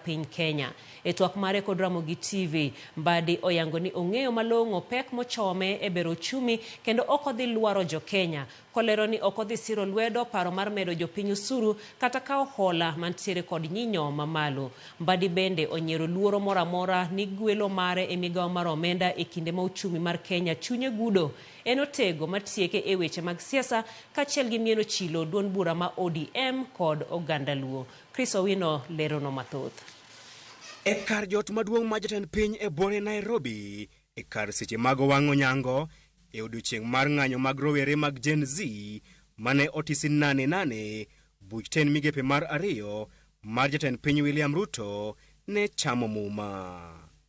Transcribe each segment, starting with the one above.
piny Kenya. E twak mare kod Ramogi TV, Mbadi oyango ni ong'eyo malong'o pek mochome e bero ochumi kendo ok odhi lwaro jo Kenya, kolero ni ok odhi siro lwedo paro mar medo jopiny osuru kata kawo hola mantiere kod nyinyo mamalo. Mbadi bende onyiero luoro moro amora ni gwelo mare e migawo mar omenda e kinde ma ochumi mar Kenya chunye gudo. En otego matieke e weche mag siasa kachiel gi mieno chilo duond bura ma ODM kod oganda Luo. Chris Owino leronwa mathoth. E kar jot maduong' ma jatend piny e bore Nairobi e kar seche mag wang' onyango e odiochieng' mar ng'anyo mag rowere mag Gen Z mane otisi nane nane, buch tend migepe mar ariyo mar jatend piny William Ruto ne chamo muma.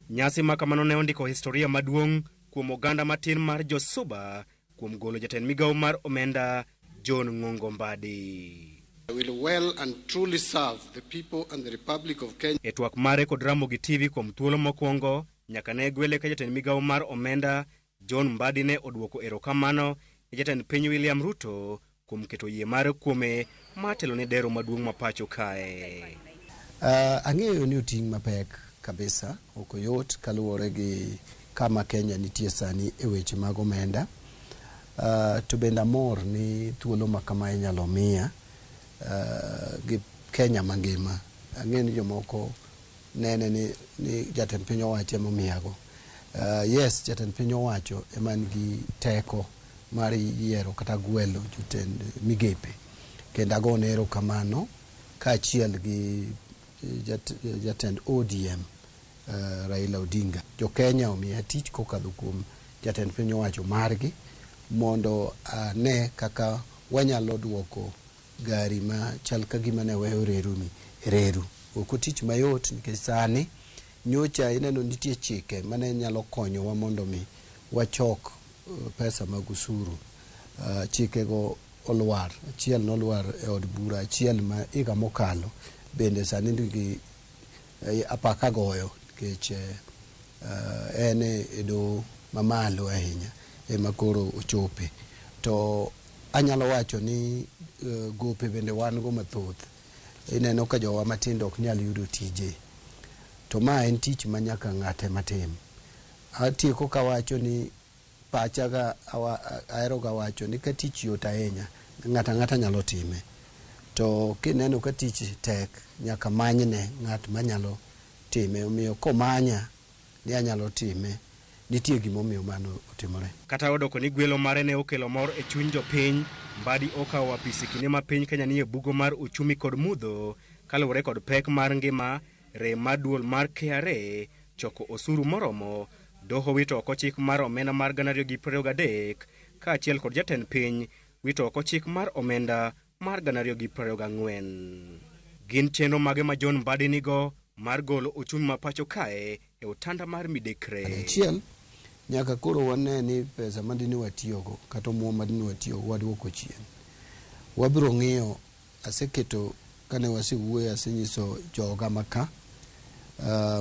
Nyasi makamano ne ondiko historia maduong' kuom oganda matin mar jo Suba kuom golo jatend migawo mar omenda John Ng'ongo Mbadi. I will well and truly serve the people and the Republic of Kenya. E twak mare kod Ramogi TV kuom thuolo mokwongo nyaka ne gwele ka jatend migawo mar omenda John Mbadi ne odwoko erokamano ne jatend piny William Ruto kuom keto yie mare kuome ma telo ne dero maduong' ma pacho kae. Uh, ang'eyo ni oting' mapek kabisa, ok oyot kaluwore gi kama Kenya nitie sani e weche mag omenda. Uh, to bende amor ni thuolo ma kama inyalo miya uh, gi Kenya mangima. Ang'eyo ni jomoko nene ni, ni jatend piny owacho emomiyago. Uh, yes, jatend piny owacho ema nigi teko mar yiero kata gwelo jotend migepe kendo agone erokamano kaachiel gi eh, jat, eh, jatend ODM uh, eh, Raila Odinga. Jo Kenya omiya tich kokadho kuom jatend piny owacho margi mondo ane uh, kaka wanyalo duoko gari ma chal ka gima ne weyo reru ni reru. Ok otich mayot nikech sani Nyocha ineno nitie chike mane nyalo konyowa mondo mi wachok pesa mag usuru. Chike go olwar, achiel nolwar e od bura, achiel ma higa mokalo bende sani ndigi apaka goyo nikech en e doho mamalo ahinya ema koro ochope. To anyalo wacho ni gope bende wan go mathoth. ineno ka jowa matindo ok nyal yudo tije. To ma en tich ma nyaka ng'ato ema tim. Atieko kawacho ni pachaga aheroga wacho ni ka tich yot ahinya, ng'ato ang'ata nyalo time. To kineno ka tich tek, nyaka manyne ng'at manyalo time. Omiyo komanya. ni anyalo time, nitie gimomiyo mano otimore. Kata odoko ni gwelo mare ne okelo mor e chuny jopiny, Mbadi okawo apisi kinde ma piny Kenya nie bugo mar uchumi kod mudho kaluwore kod pek mar ngima, rem mar duol mar KRA, choko osuru moromo, doho wito oko chik mar omenda mar gana ariyo gi prariyo gadek, kaachiel kod jatend piny wito oko chik mar omenda. mar 2024. Gin chenro mage ma John Mbadi nigo mar golo ochumi ma pacho kae e otanda mar midekre? Achiel, nyaka koro wane ni pesa ma dine watiyogo kata omuom ma dine watiyogo waduoko chien. Wabiro ng'iyo, aseketo kane wasewuoye asenyiso joga maka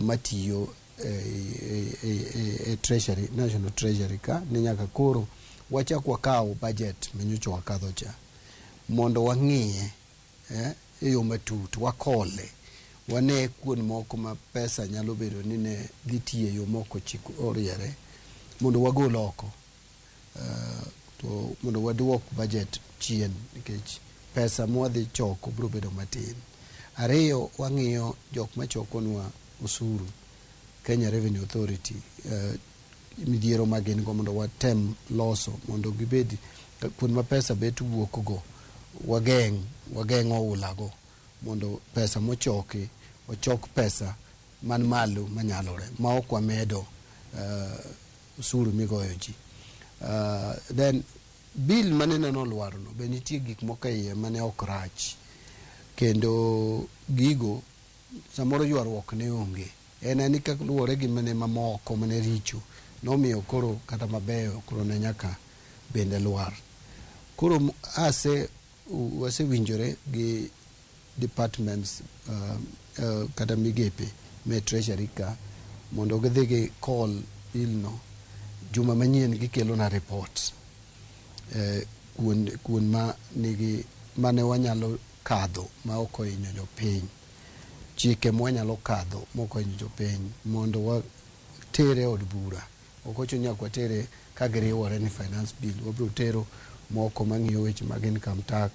matiyo e treasury, national treasury ka ni nyaka koro wachak wakaw budget manyocha wakadho cha. mondo wang'iye e yo matut, wakole, wane kuond moko ma pesa nyalo bedo ni ne dhi tiyo e yo ma ok ochik oriere mondo wagol oko to mondo waduok bajet chien nikech pesa ma wadhi choko biro bedo matin. Ariyo, wang'iyo jok machokonwa osuru, Kenya Revenue Authority, midhiero ma gin go mondo watem loso mondo gibed kuonde ma pesa bet wuok go wageng' wageng' oula go mondo pesa mochoki ochok pesa man malo manyalore ma ok wamedo uh, usuru migoyo ji uh, then bill mane neno olwaro no be nitie gik moko e iye mane ok rach kendo gigo Samoro ywaruok ne onge. En ani ka luwore gi mane mamoko mane richo nomiyo koro kata mabeyo koro ne nyaka bende lwar. Koro ase wasewinjore gi departments kata migepe me treasury ka mondo gidhi gi call bill no juma manyien gikelona report kuond kuond ma nigi mane wanyalo kadho ma ok ohinyo jopiny, chike mwanyalo kadho ma ok ohinyo jopiny mondo water e od bura. Ok ochuno ni nyaka watere ka giriwore ni finance bill. Wabiro tero moko mang'iyo weche mag income tax,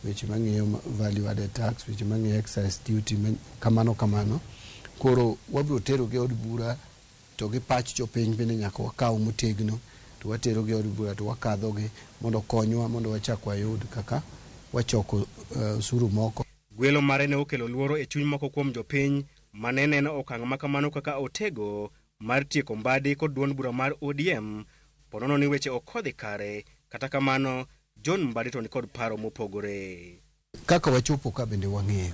weche mang'iyo value added tax, weche mang'iyo excise duty, kamano kamano. Koro wabiro terogi e od bura. to gi pach jopiny bende nyaka wakaw motegno to waterogi e od bura to wakadhogi mondo okonywa mondo wachak wayud kaka wachoko osuru moko. Gwelo mare ne okelo luoro e chuny moko kuom jopiny ma ne neno okang' ma kamano kaka otego mar tieko Mbadi kod duond bura mar ODM po nono ni weche ok odhi kare, kata kamano John Mbadi to nikod paro mopogore. Kaka wachopo ka bende wang'eyo.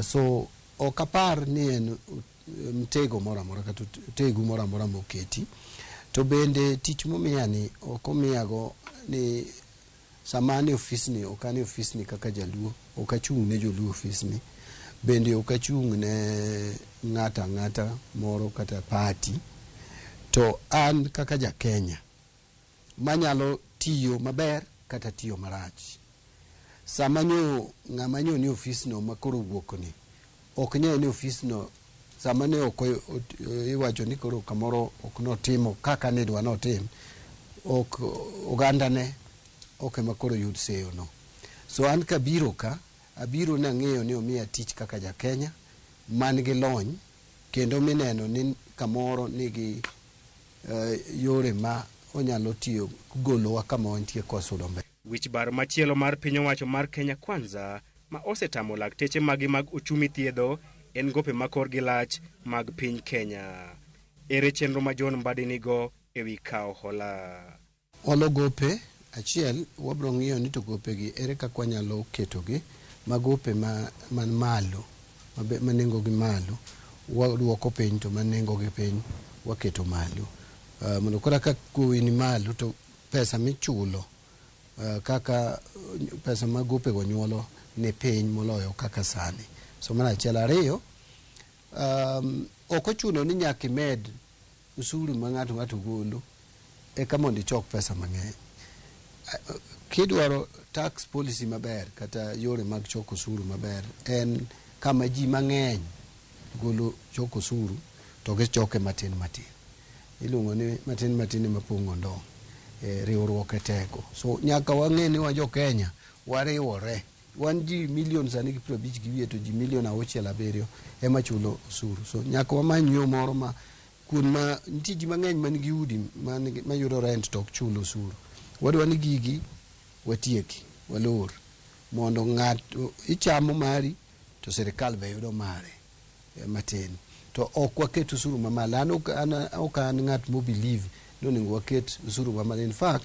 So ok apar ni en mtego moro amora kata otegu moro amora moketi. To bende tich momiya ni ok omiya go ni sama an e ofisni ok an e ofisni kaka jaluo. Ok achung' ne joluo e ofisni. Bende ok achung' ne ng'ato ang'ata moro kata party. To an kaka ja Kenya. ma nyalo tiyo maber kata tiyo marach. Sama nyo ng'ama nyo ni ofisno ma koro owuokni ok ny'e ni ofisno sama ne ok iwacho ni koro kamoro ok notimo kaka ne idwa notim, ok ogandane ok ema koro yud seyono. So an kabiro ka, abiro nang'eyo ni omiya tich kaka ja Kenya man gi lony kendo mineno ni kamoro nigi yore ma onyalo tiyo golowa kama wantie kwa sudo mbele. Wich bar machielo mar piny owacho mar Kenya Kwanza ma osetamo lakteche magi mag ochumi thiedho en gope ma korgi lach mag piny Kenya. Ere chenro ma John Mbadi nigo ewi kawo hola? Olo gope, Achiel, wabiro ng'iyo ni to gopegi ere kaka wanyalo ketogi ma gope ma man malo mabe ma nengo gi malo waduoko piny to ma nengo gi piny waketo malo. Mondo koro aka gowi ni malo to pesa michulo kaka pesa ma gopego nyuolo ni piny moloyo kaka sani. So mano achiel. Ariyo, Um, ok ochuno ni nyaka imed usuru ma ng'ato ng'ato golo eka mondo ichok pesa mang'eny. Kidwaro tax policy maber kata yore mag choko usuru maber en kama ji mang'eny golo choko usuru to gichoke matin matin. Iluongo ni matin matin ema pong'o ndong'. E, riwruok e teko. So nyaka wang'e ni wa jo Kenya wariwore. Wan ji million sani gi piero abich gi wiye to ji million auchiel abiriyo ema chulo osuru. So nyaka wamany yo moro ma kuond ma nitie ji mang'eny man gi udi man gi mayudo rent to ok chul osuru. Wadwa ni gigi watieki, walor mondo ng'ato ichamo mari to sirikal be yudo mare matin. To ok waket osuru mamalo. An ok an ok an ng'at mo believe ni onego waket osuru mamalo. In fact,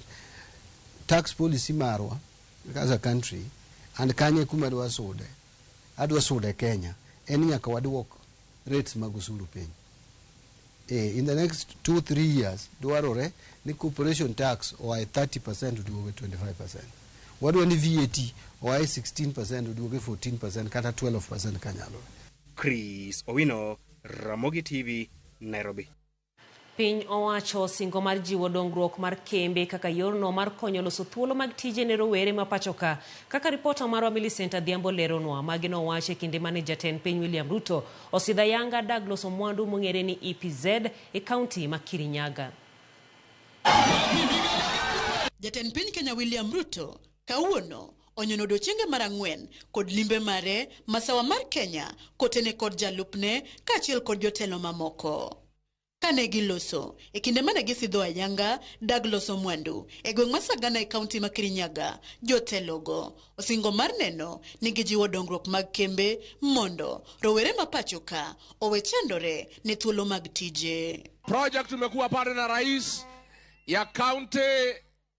tax policy marwa as a country and kanye kuma adwa sude adwa sude Kenya en nyaka waduok rates mag usuru piny eh, in the next 2 3 years dwarore ni corporation tax oae 30% oduoge 25% wadwa ni VAT oae 16% oduoge 14% kata 12% kanyalore Chris Owino, Ramogi TV, Nairobi. Piny owacho osingo mar jiwo dongruok mar kembe kaka yorno mar konyo loso thuolo mag tije ne rowere ma pachoka. Kaka ripota marwa Millicent Adhiambo leronwa, magi nowach e kinde mane jatend piny William Ruto osidho ayanga dag loso mwandu mong'ere ni EPZ e kaunti ma Kirinyaga. Jatend piny Kenya William Ruto Kawuono onyono dochienge mar ang'wen kod limbe mare masawa mar Kenya kotene kod jalupne kaachiel kod jotelo mamoko. Kane giloso e kinde mane gisidho ayanga dag loso mwandu e gweng' ma Sagana e kaunti ma Kirinyaga, jotelogo osingo mar neno ni gijiwo dongruok mag kembe mondo rowere ma pachoka owe chandore ne thuolo mag tije. Project tumekuwa pale na rais ya kaunti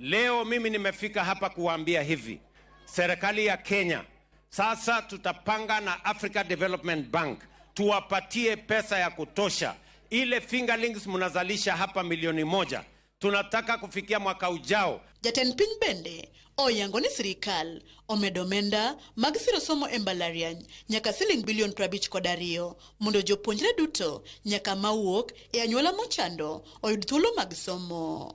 Leo mimi nimefika hapa kuwaambia hivi, serikali ya Kenya sasa tutapanga na Africa Development Bank tuwapatie pesa ya kutosha. Ile fingerlings mnazalisha hapa milioni moja tunataka kufikia mwaka ujao. Jatend piny bende oyango ni sirikal omedo omenda mag siro somo e mbalariany nyaka siling bilion 50 kod ariyo mondo jopuonjre duto nyaka mawuok e anyuola mochando oyud thuolo mag somo.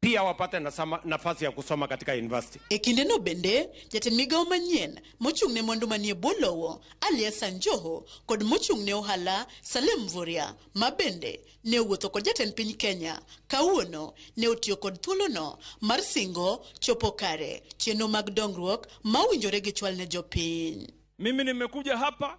pia wapate nasama- nafasi ya kusoma katika university. E kindeno bende, jatend migawo manyien mochung' ne mwandu manie bwo lowo, Ali Hassan Joho, kod mochung' ne ohala, Salem Mvurya, ma bende ne owuotho kod jatend piny Kenya, kawuono ne otiyo kod thuolono mar singo chopo kare chenro mag dongruok ma owinjore gichwal ne jopiny. Mimi nimekuja hapa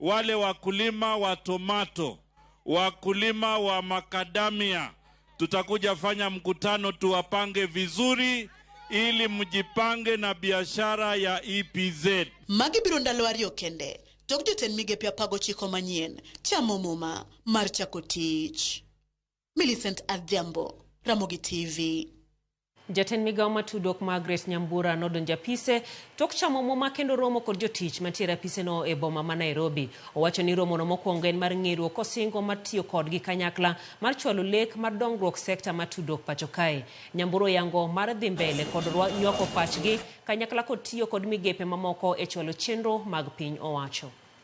wale wakulima wa tomato, wakulima wa makadamia, tutakuja fanya mkutano tuwapange vizuri ili mjipange na biashara ya EPZ. Magi biro ndalo ariyo kende tok jotend migepe apago chiko manyien chamo muma mar chako tich. Millicent Adhiambo, Ramogi TV. Jatend migao ma tudruok Margaret Nyambura nodonjo apise tok chamo muma kendo romo kod jotich mantiere apise no e boma ma Nairobi. Owacho ni romo no mokwongo en mar ng'eruo kosingo mar tiyo kodgi kanyakla mar chwalo lek mar dongruok sekta ma tudruok pacho kae. Nyambura oyango mar dhi mbele kod nywako pachgi kanyakla kod tiyo kod migepe mamoko e chwalo chenro mag piny owacho.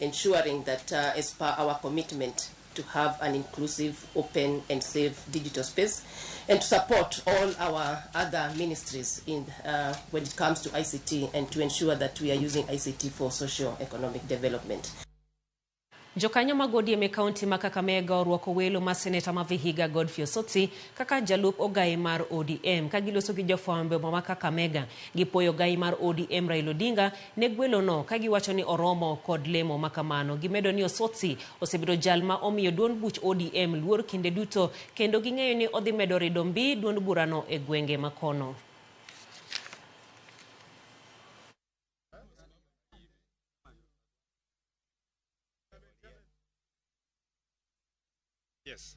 ensuring that uh, as per our commitment to have an inclusive, open and safe digital space and to support all our other ministries in uh, when it comes to ICT and to ensure that we are using ICT for social economic development. Jokanyo mag ODM e kaunti ma Kakamega orwako welo ma seneta ma Vihiga Godfrey Osotsi kaka jalup ogayi mar ODM ka giloso gi jofwambo e boma ma Kakamega. Gipuoyo ogayi mar ODM Raila Odinga ne gwelo no kagiwacho ni oromo kod lemo makamano. Gimedo ni Osotsi osebedo jal ma omiyo duond buch ODM luor kinde duto kendo ging'eyo ni odhi medo rido mbi duond burano e gwenge makono. Yes.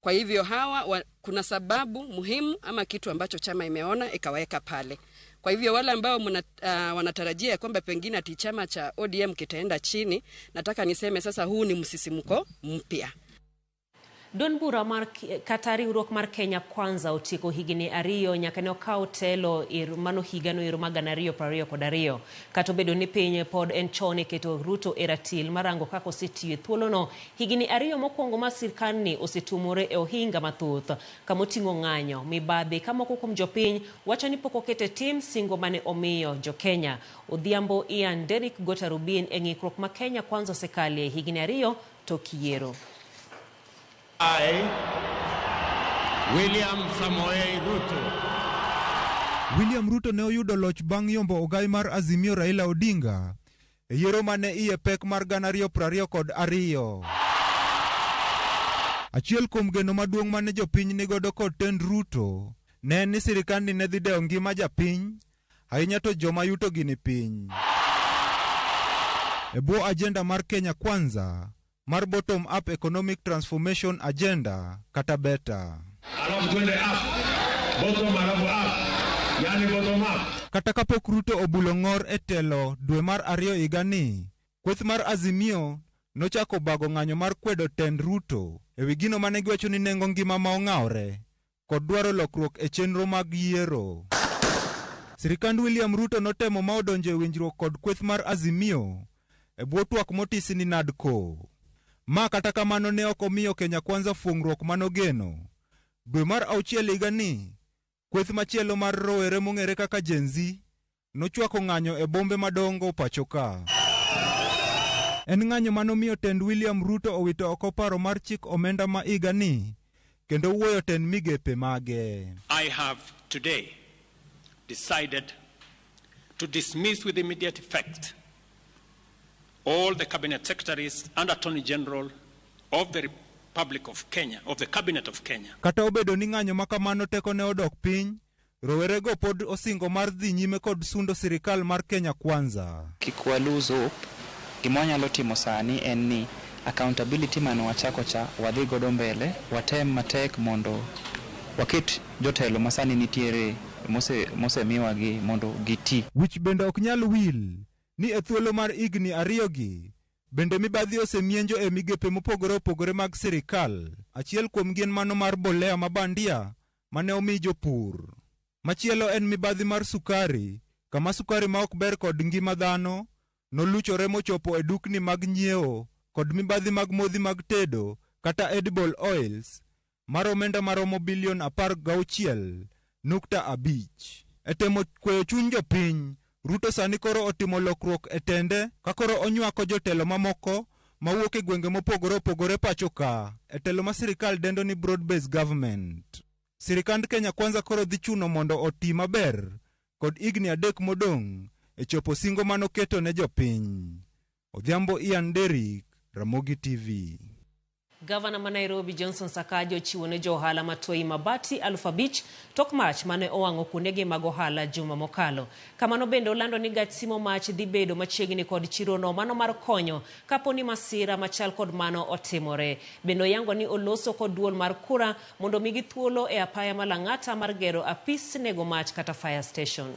Kwa hivyo hawa wa, kuna sababu muhimu ama kitu ambacho chama imeona ikawaweka pale. Kwa hivyo wale ambao muna, uh, wanatarajia ya kwamba pengine ati chama cha ODM kitaenda chini, nataka niseme sasa huu ni msisimko mpya. Duond bura mar kata riwruok mar Kenya Kwanza otieko higni ariyo nyaka ne okaw telo ir mano higano ero ma gana ariyo piero ariyo kod ariyo. Kata obedo ni piny pod en chon e keto Ruto e ratil marango kaka osetiyo e thuolono, Higini ariyo mokwongo ma sirkandni osetuomore e ohinga mathoth, kama oting'o ng'anyo, mibadhi ka moko kuom jopiny wacho ni pok oket e tim singo mane omiyo jo-Kenya. Odhiambo Ian Derrick go tarubin e ng'ikruok ma Kenya Kwanza osekalie higini ariyo tok yiero. I, William Samoei Ruto. William Ruto ne oyudo loch bang' yombo ogai mar Azimio Raila Odinga e yiero ma ne iye pek mar gana ariyo prariyo kod ariyo. Achiel kuom geno maduong' mane jopiny nigodo kod tend Ruto ne en ni sirikandni ne dhi dewo ngima japiny ahinya to joma yutogi ni piny. E bwo ajenda mar Kenya Kwanza, mar Bottom Up Economic Transformation Agenda kata BETA. Alafu twende up. Bottom alafu up. Yaani bottom up. Kata kapok Ruto obulo ng'or e telo dwe mar ariyo higani, kweth mar Azimio nochako obago ng'anyo mar kwedo tend Ruto ewi gino mane giwacho ni nengo ngima ma ong'awre kod dwaro lokruok e chenro mag yiero. Sirikand William Ruto notemo ma odonjo e winjruok kod kweth mar Azimio e bwo twak motisi ni NADCO. Ma kata kamano ne ok omiyo Kenya Kwanza fuong'ruok manogeno. Dwe mar auchiel higani, kweth machielo mar rowere mong'ere kaka Gen-Z nochwako ng'anyo e bombe madongo pacho ka. En ng'anyo manomiyo tend William Ruto owito oko paro mar chik omenda ma higa ni kendo wuoyo tend migepe mage. I have today decided to dismiss with immediate effect all the cabinet secretaries and attorney general of the Republic of Kenya, of the cabinet of Kenya. Kata obedo ni ng'anyo makamano tekone odok piny, Rowerego pod osingo mar dhi nyime kod sundo sirikal mar Kenya Kwanza. Kik wa lose hope, gima wanyalo timo sani en ni accountability mane wachako cha wadhi godo mbele, watem matek mondo waket jotelo masani nitiere mose mose miwa gi mondo gi ti. Wich bende ok nyal wil ni e thuolo mar higni ariyo gi bende mibadhi ose mienjo e migepe mopogore opogore mag sirikal, achiel kuomgi en mano mar mbolea ma bandia ma ne omi jopur. Machielo en mibadhi mar sukari, kama sukari ma ok ber kod ngima dhano noluchore mochopo e dukni mag nyiewo kod mibadhi mag modhi mag tedo kata edible oils mar omenda maromo bilion apar gauchiel nukta abich. E temo kweyo chuny jopiny, Ruto sani koro otimo lokruok e tende ka koro onywako jotelo mamoko mawuok e gwenge mopogore opogore pacho ka e telo ma sirikal dendo ni Broad Base Government. Sirikand Kenya Kwanza koro dhi chuno mondo oti maber kod higni adek modong' e chopo singo manoketo ne jopiny. Odhiambo Ian Derrick, Ramogi TV. Gavana ma Nairobi Johnson Sakaja ochiwo ne jo ohala ma Toi mabati aluf abich tok mach mane owang'o kuondege mag ohala juma mokalo. Kamano bende olando ni gach simo mach dhi bedo machiegni kod chirono mano mar konyo kapo ni masira machal kod mano otimore. Bende oyango ni oloso kod duol mar kura mondo omigi thuolo e apaya ma Lang'ata mar gero apis nego mach kata fire station.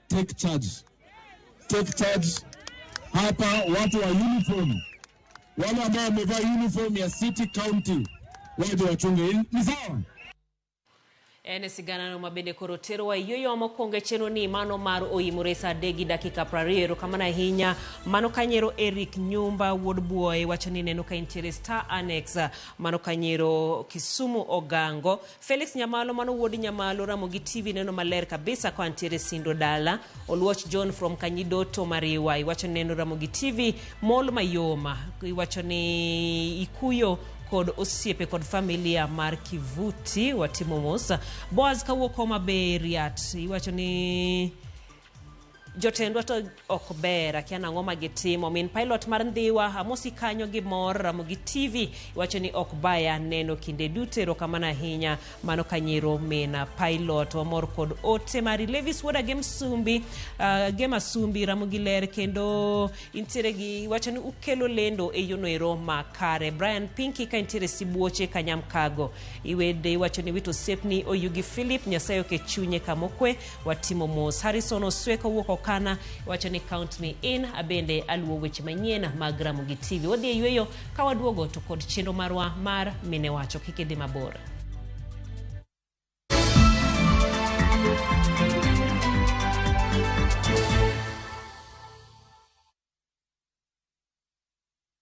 take charge, take charge. Hapa watu wa uniform, wale ambao wamevaa uniform ya city county waje wachunge, ni sawa? En sigana no mabende koro terowa yueyo mokwongo e chenro ni mano mar oyimore sa adek gi dakika prariyo erokamano ahinya mano kanyero eric nyumba wuod buoye wacho ni neno ka intiere star annex mano kanyero kisumu ogango Felix Nyamalo mano wuod Nyamalo Ramogi TV neno maler kabisa kwa ntiere Sindo Dala Oluoch John from Kanyidoto Mariwa iwacho ni neno Ramogi TV mol mayoma iwacho ni ikuyo kod osiepe kod familia mar Kivuti watimo mos Boaz kawuok Homa Bay Riat iwacho ni jotendwa to ok ber akia nang'o ma gitimo min pilot mar ndhiwa amosi kanyo gi mor ramogi tv iwacho ni ok baya neno kinde duto erokamano ahinya mano kanyero min pilot wamor kod ote mari levis wuoda gi msumbi uh, gi masumbi ramogi ler kendo intiere gi iwacho ni ukelo lendo e yono ero makare brian pinki ka intiere sibuoche kanyam kago iwede iwacho ni wito osepni oyugi philip nyasaye oke chunye kamokwe watimo mos. Harrison Osweko wuok Okana wacho ni count me in. Abende aluwo weche manyien mag Ramogi TV. Wadhi e yueyo ka waduogo to kod chenro marwa mar mine wacho kik idhi mabor.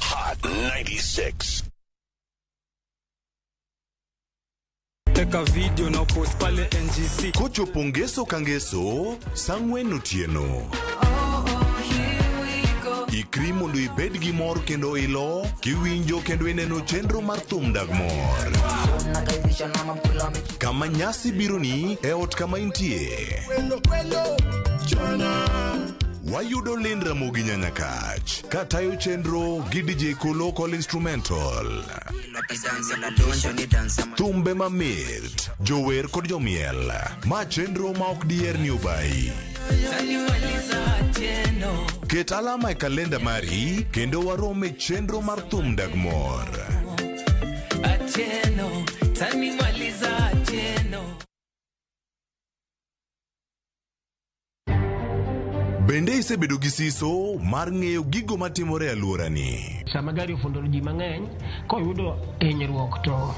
Hot 96. teka video na post pale ngc kochopo ngeso ka ngeso sang'wen otieno ikri mondo ibed gi mor kendo ilo kiwinjo kendo ineno chenro mar thum dag mor Kama nyasi bironi e ot kama intie. Wayudo Lynn Ramogi Nyanyakach ka tayo chenro gi DJ Kolo Call Instrumental. Thumbe mamit, jower kod jomiel. Ma chenro ma ok diher ni obayi. Ket alama e kalenda mari kendo warom e chenro mar thum dag mor. Bende isebedo gi siso mar ng'eyo gigo matimore e alworani. Sama gari ofundo ji mang'eny, koyudo hinyruok to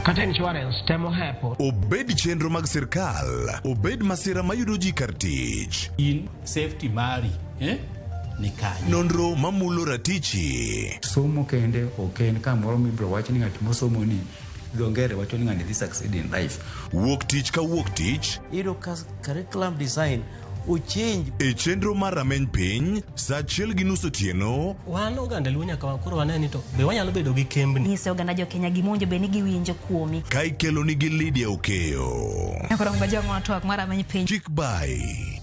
kata insurance temo hepo. Obed chenro mag sirkal, obed masira mayudo ji kar tich. In safety mari eh, ni kanye Nonro mamulo ratichi. somo kende ok en kamoro mibiro wach ni ng'at mosomo ni dho ngere wacho ni ng'ani dhi succeed in life Wuok tich ka wuok tich iyudo ka curriculum design ochange e chenro mar rameny piny saa achiel gi nus otieno wan oganda luo nyaka wa- koro wane ni to be wanyalo bedo gi kembni nyise oganda jokenya gima owinjo bed ni giwinjo kuomi ka ikelonigi Lydia Okeyo. Koro ngwa jong'wa twak mar ameny piny. Chik by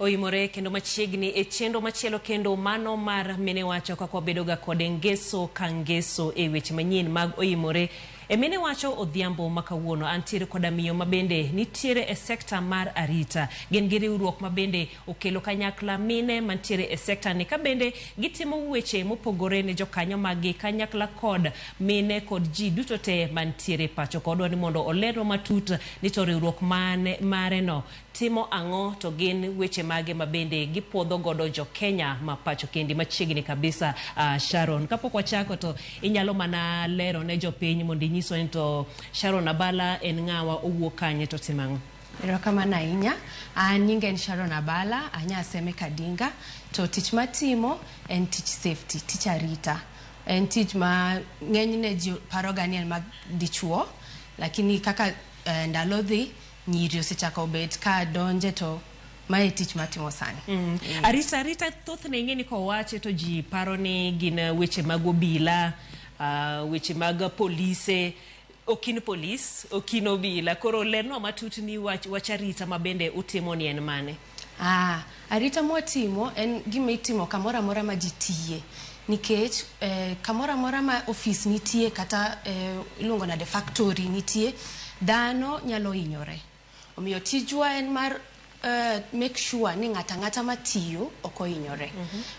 Oimore kendo machiegni e chenro machielo kendo mano mar mine wacho kaka wabedoga kode ngeso ka ngeso e weche manyien mag oimore e mine wacho odhiambo ma kawuono antiere koda miyo mabende nitiere e sekta mar arita gin gi riwruok mabende okelo kanyakla mine mantiere e sekta ni kabende gitimo weche mopogore ne jokanyo maggi kanyakla kod mine kod ji duto te mantiere pacho kodwa ni mondo olerwa matut ni to riwruok mane mareno timo ang'o to gin weche mage ma bende gipuodho godo jo Kenya ma pacho kendi machiegni kabisa uh, Sharon kapok wachako to inyalo mana lero ne jopiny mondo inyiswa ni to Sharon Abala en ng'awa owuok kanye to timo ang'o Erokamano ahinya. An nyinga en Sharon Abala, anya Aseme Kadinga, to tich matimo en tich safety, tich arita. En tich ma ng'enyne ji paroga ni en mag dichuo, lakini kaka eh, ndalo dhi Nyiri osechako bet ka donje to mae tich matimo sani. Mm. Mm. Arita arita thothne ing'e ni kowache to ji paro ni gin eh, weche mag obila, uh, weche mag polise okin polis, okin obila. Koro lernwa matut ni wach, wach arita ma bende utimo ni en mane? Ah, arita mwatimo en gima itimo kamoro amora ma ji tiye nikech eh, kamoro amora ma ofis nitie kata eh, iluongo nade factory nitie dhano nyalo hinyore omiyo tijwa en mar eh, make sure ni ng'ato ang'ata matiyo ok ohinyore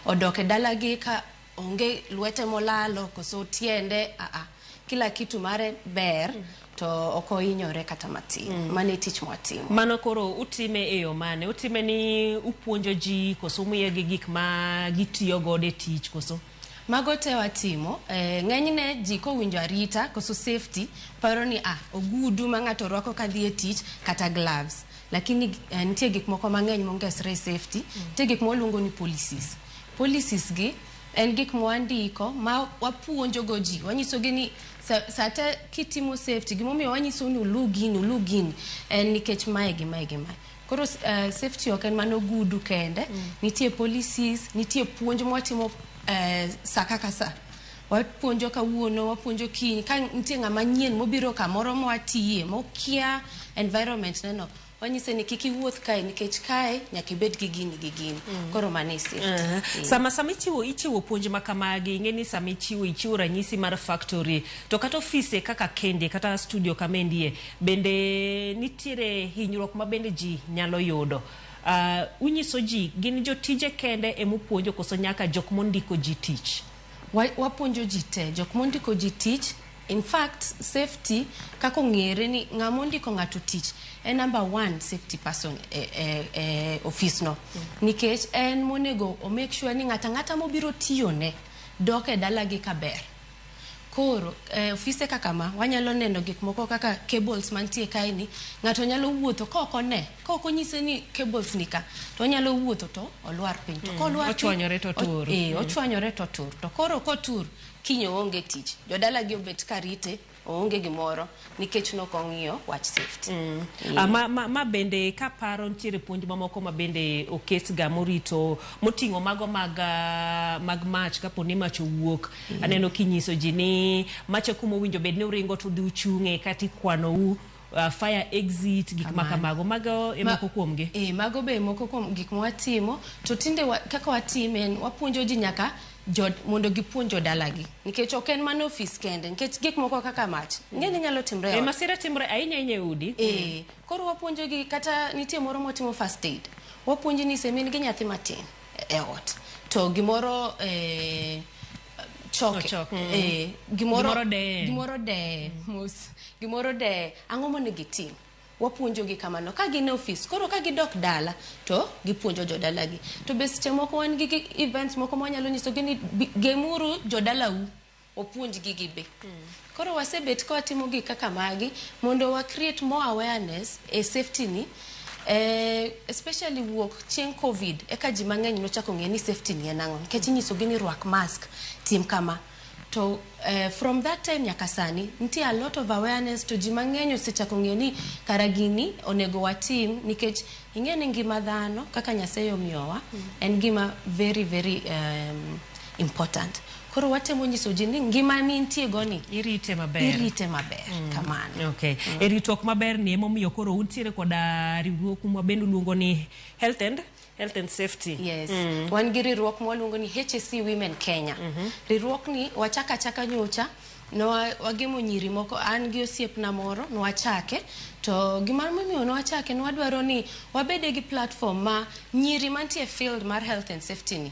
odok e dalagi ka onge lwete molalo koso tiende aa kila kitu mare ber to ok ohinyore kata matin mm. mano e tich mwatimo mano koro utime e yo mane utime ni upuonjo ji koso umiyogi gik ma gitiyo godo e tich koso mago te watimo eh, ng'enyne ji kowinjo arita koso safety paro ni ah, ogudu ma ng'ato rwako ka dhi e tich kata gloves lakini eh, nitie gik moko mang'eny mongesre e safety mm. nitie gik moluongo ni policies Policies gi en gik mwandiko ma wapuonjogo ji. Wanyisogi ni sa, sa te kitimo safety, gimomiyo wanyisou ni ulu gini, ulu gini en nikech mae gi mae gi mae. Koro s- eh, safety ok en mana ogudu kende, nitie policies, nitie puonj mwatimo eh, sa kaka sa. Wapuonjo kawuono, wapuonjo kiny, ka nitie ng'ama nyien mobiro kamoro mwatiye, mokia environment neno, Wanyise ni kik iwuoth kae nikech kae nyaka ibed gi gini gi gini. Mm. Koro mano e safety. Uh -huh. mm. Sama sama ichiwo ichiwo puonj ma kamagi ing'e ni sama ichiwo ichiwo ranyisi mar factory to kata ofise kaka kende kata studio kama endie bende nitiere hinyruok ma bende ji nyalo yudo. Uh, unyiso ji gin jotije kende emupuonjo koso nyaka jok mondiko ji tich. Wa, wapuonjo ji te, jok mondiko ji tich. In fact, safety kaka ong'ere ni ng'ama ondiko ng'ato tich en number one safety person e, e, e ofis no. Nikech en monego o make sure ni ng'ata ng'ata mobiro tiyone dok e dalagi kaber. Koro eh, ofise kaka ma wanyalo neno gik moko kaka cables mantie kaeni, ng'ato nyalo wuotho ka ok one Ka ok onyise ni cables ni ka to onyalo wuotho to olwar piny to mm, kolwar piny ochwanyore to tur eh mm. ochwanyore to tur to koro kotur kiny oonge tich jodala gi obet karite oonge gimoro nikech nok ong'iyo wach safety mm. yeah. ma, ma, ma bende kaparo nitiere puonj mamoko ma bende oketga morito moting'o mago mag, ah, mag mach kapo ni mach owuok mm. aneno kinyiso ji ni macha kuma owinjo bed ni uringo to dhi uchung'e kata ikwanou uh, fire exit gik ma kamago mago e moko kuom gi eh mago be moko kuom gik mwatimo to tinde wa, kaka watime en wapuonjo ji nyaka jod, mondo gipuonj jodalagi nikech ok en mana ofis kende nikech gik moko kaka mach ng'eni nyalo timre e eh, masira timre ahinya ahinya e udi eh koro wapuonjo gi kata nitie moro motimo first aid wapuonji ni semin gi nyathi matin e ot to gimoro eh choke, choke. Mm. Eh, gimoro, gimoro deye gimoro deye mm. mos gimoro deye ang'o monego gitim wapuonjogi kamano ka gin e ofis koro ka gidok dala to gipuonjo jodalagi to be seche moko wan gi events moko ma wanyalo nyisogi ni gemuru jodalau opuonjgi gi be mm. Koro wasebet ka watimo gik kaka magi mondo wa create more awareness e safety ni eh, especially wuok chieng' covid eka ji mang'eny nochako ng'e ni safety ni en ang'o nikech inyisogi ni rwak mask tim kama to eh, from that time nyaka sani nitie a lot of awareness to ji mang'eny osechako ng'e ni kara gini onego watim nikech ing'e ni ngima dhano kaka nyasaye omiyowa en gima very very um, important Koro watemo nyiso ji ni ngima ni nitie goni. Irite maber. Irite maber. Mm. Kamano. Okay. Mm. E ritruok maber ni emomiyo koro untiere koda riwruok mwa bende luongo ni Health and health and safety yes mm. wan gi riwruok mwaluongo ni HSC Women Kenya mm -hmm. riwruok ni wachaka chaka nyocha no wagemo nyiri moko an gi osiepna moro nwachake to gima momiyo nwachake nwadwaro ni wabede gi platform ma nyiri mantie field mar health and safety ni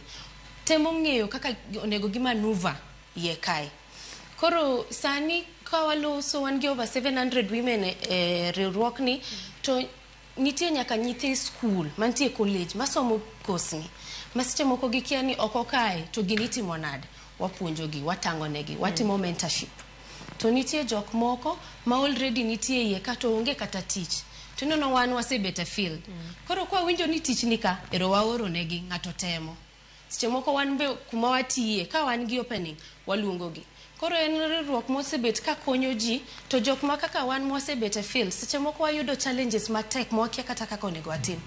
temo ng'eyo kaka onego gi manuva iye kae. Koro sani ka waloso wan gi over 700 women e, e riwruokni to nitie nyaka nyithi skul mantie college masomo kosni ma seche moko gikia ni oko kae to gini itimo nade. Wapuonjogi, watang'onegi, watimo mentorship. to nitie jok moko ma already nitie iye ka to onge kata tich to ineno wan wasebet e field koro kwa winjo ni tich ni ka ero waoro negi ng'ato temo seche moko wan be kuma watiye ka wan gi opening waluongo gi koro en riwruok mosebet ka konyo ji to jok ma kaka wan mwasebet e field seche moko wayudo challenges matek ma wakia kata kaka onego watim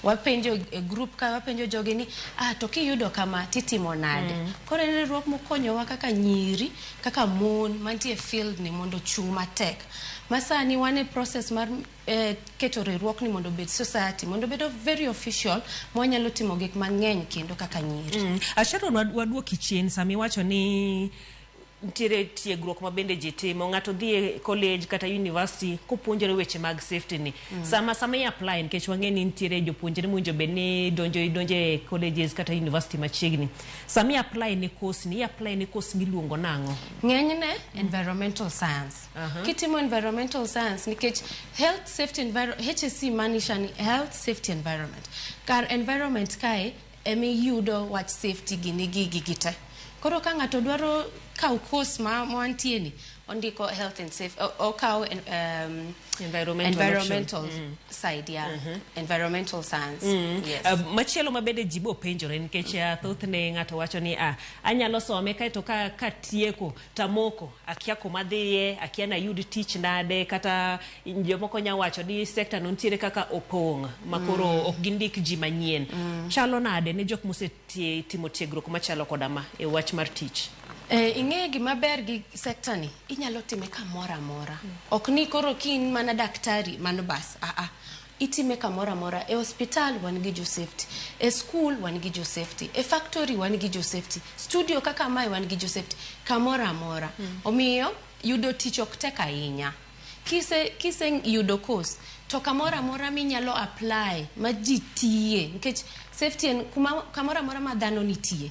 wapenjo e group ka wapenjo jogi ni ah to kiyudo kama titimo nade koro en riwruok mokonyowa kaka nyiri kaka mon mantie field ni mondo ochung' matek. Masani wan e process mar eh, keto riwruok ni mondo obed society, mondo obedo very official ma wanyalo timo gik mang'eny kendo kaka nyiri. Mm. Ah, Sharon wad- waduoki chien sama iwacho ni nitiere tiegruok ma bende ji timo ng'ato dhi e college kata university kopuonjore weche mag safety ni Mm. Sama sama i apply nikech wang'e ni nitiere jopuonjre mowinjo bed ni donjo idonjo e colleges kata university machiegni. Sama i apply ne course ni i apply ne course miluongo nang'o? Ng'enyne environmental science. Aha. Kitimo environmental science nikech health safety enviro- HSC maanisha ni health safety environment. Kar environment kae Emiyudo wach safety gini gigi gi te. Koro ka ng'ato dwaro kaw course ma wantie ni, ondiko health and safe, o- okaw en- um, Environmental environmental option. side, yeah. Environmental science. Yes. Uh, machielo ma bende ji bopenjore nikech uh, thothne ng'ato wacho ni ah, anyalo some kaeto ka, ka tieko tamoko akia kuma adhiye akia nayud tich nade kata jomoko nya wacho ni sekta no nitiere kaka opong' ma koro mm. ok gindik ji manyien mm. chalo nade ne jok mosetimo tiegruok machalo koda ma e wach mar tich Eh, ing'eyo gima ber gi sekta ni inyalo time kamoro amora mm. ok ni koro kin mana daktari mano bas aa ah, ah. Itime kamoro amora. E hospital wan gi jo safety. E school wan gi jo safety. E factory wan gi jo safety. Studio kaka mae wan gi jo safety. Kamoro amora. Omiyo yudo tich ok tek ahinya. Kise kise yudo course to kamoro amora minyalo apply ma ji tiye nikech safety en kuma kamoro amora ma dhano nitie.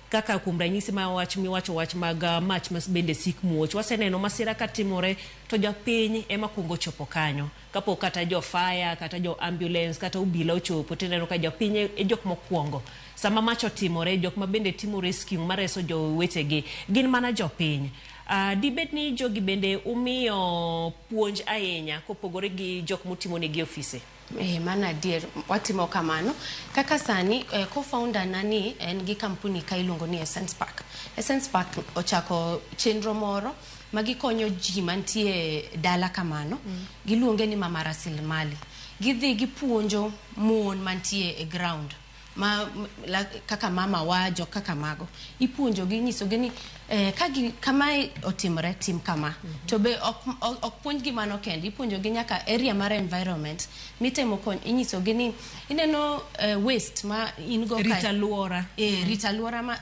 Kaka kuom ranyisi ma wach miwacho wach mag mach ma bende sik muoch, waseneno masira ka timore to japiny ema kuongo chopo kanyo. Kapok kata jo fire kata jo ambulance kata obila ochopo tineno ka japiny e, e jok mokuongo. Sama mach otimore, jok ma bende timo rescue mareso jowetegi gin mana jopiny. Uh, dibed ni jogi bende umiyo puonj ahinya kopogore gi jok mutimonegi ofise? Eh, mano adier watimo kamano kaka sani eh, co-founder na ni en gi kampuni ka iluongo ni Essence Park. Essence Park ochako chenro moro ma gikonyo ji mantie dala kamano mm. giluonge ni mama rasilimali gidhi gipuonjo mon mantie e ground ma la, kaka mama wa jok kaka mago ipuonjogi inyisogi ni eh, ka gi- kamae otimore tim kama to be ok ok- ok puonjgi mano kende ipuonjogi nyaka area mar environment mitemo kony inyisogi ni ineno eh, waste ma in go kae- Rita Luora. eh, rita luora ma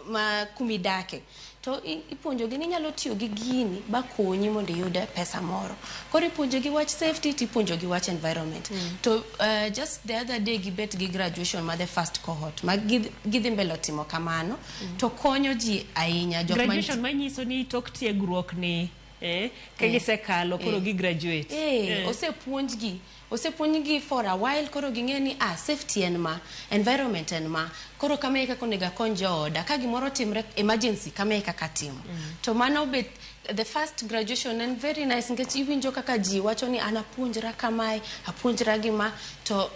ma kumidake to ipuonjogi ni inyalo tiyo gi gini bakonyi mondo iyud pesa moro koro ipuonjogi wach safety to ipuonjogi wach environment mm. to uh, just the other day gibet gi graduation ma the first cohort ma gidhi mbele timo kamano mm. to konyo ji ahinya graduation manyiso ni tok tiegruok ni eh, ka eh. gisekalo koro eh. gigraduate eh, eh. osepuonjgi Osepuonjgi for a while koro ging'eyo ni ah safety en ma, environment en ma, koro kama e kaka onego akony jooda, ka gimoro otimre emergency kama e kaka atimo. To mano be the first graduation en very nice nikech iwinjo kaka ji wacho ni an apuonjra kamae, apuonjra gi ma to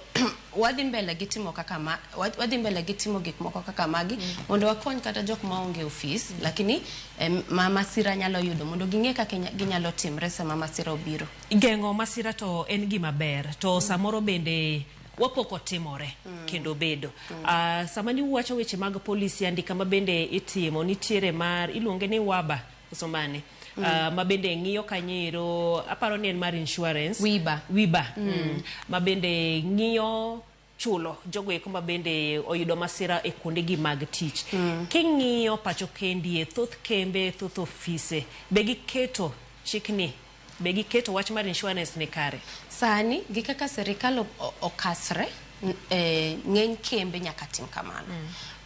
wadhi mbele gi timo kaka ma, wadhi mbele gi timo gik moko kaka magi mondo wakony kata jok ma onge ofis lakini em, ma masira nyalo yudo mondo ging'e kaka inya- ginyalo timre sama masira obiro. Geng'o masira to en gima ber to mm. samoro bende wapoko timore mm. kendo bedo mm. uh, sama ni uwacho weche mag polisi andika ma bende itimo nitiere mar iluonge ni waba somane mm. uh, ma bende ng'iyo kanyero aparo ni en mar insurance wiba wiba mm. Mm. ma bende ng'iyo chulo jogo eko ma bende oyudo masira e kuondegi mag tich. King'iyo pacho kendie, thoth kembe, thoth ofise be giketo chikni, be giketo wach mar insurance ni kare? Sani gi kaka sirikal o- o- okasre, n- eh, ng'eny kembe nyaka tim kamano.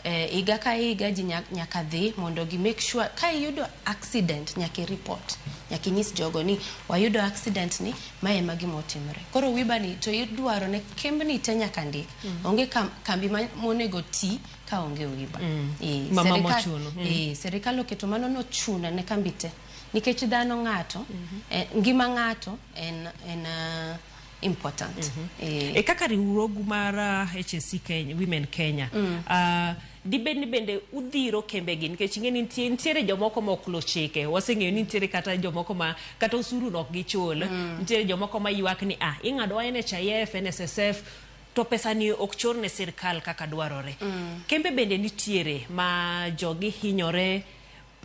Eh, higa ka higa ji nya- nyaka dhi mondo gi make sure ka iyudo accident nyaka ireport nyaka inyis jogo ni wayudo accident ni ma ema gima otimore koro wibani to idwaro ne kembni te nyaka ndik onge kam- kambi ma- monego ti ka onge wiba Eh, Mama serikal- mochuno. Mm. eh, serikal oketo mano nochuno ne kambi te nikech dhano ng'ato eh, ngima ng'ato en, en ah, important mm -hmm. e, e kaka riwruogu mar uh, HSC Kenya, Women Kenya mm. uh, dibed ni bende udhiro kembegi nikech ing'e ni nitie- nitiere jomoko ma ok luw chike waseng'eyo ni nitiere kata jomoko ma kata osuru no ok gichul nitiere jomoko ma ywak ni ah ing'adowa NHIF NSSF to pesa ni ok chor ne sirkal kaka dwarore kembe bende nitiere ma jogi hinyore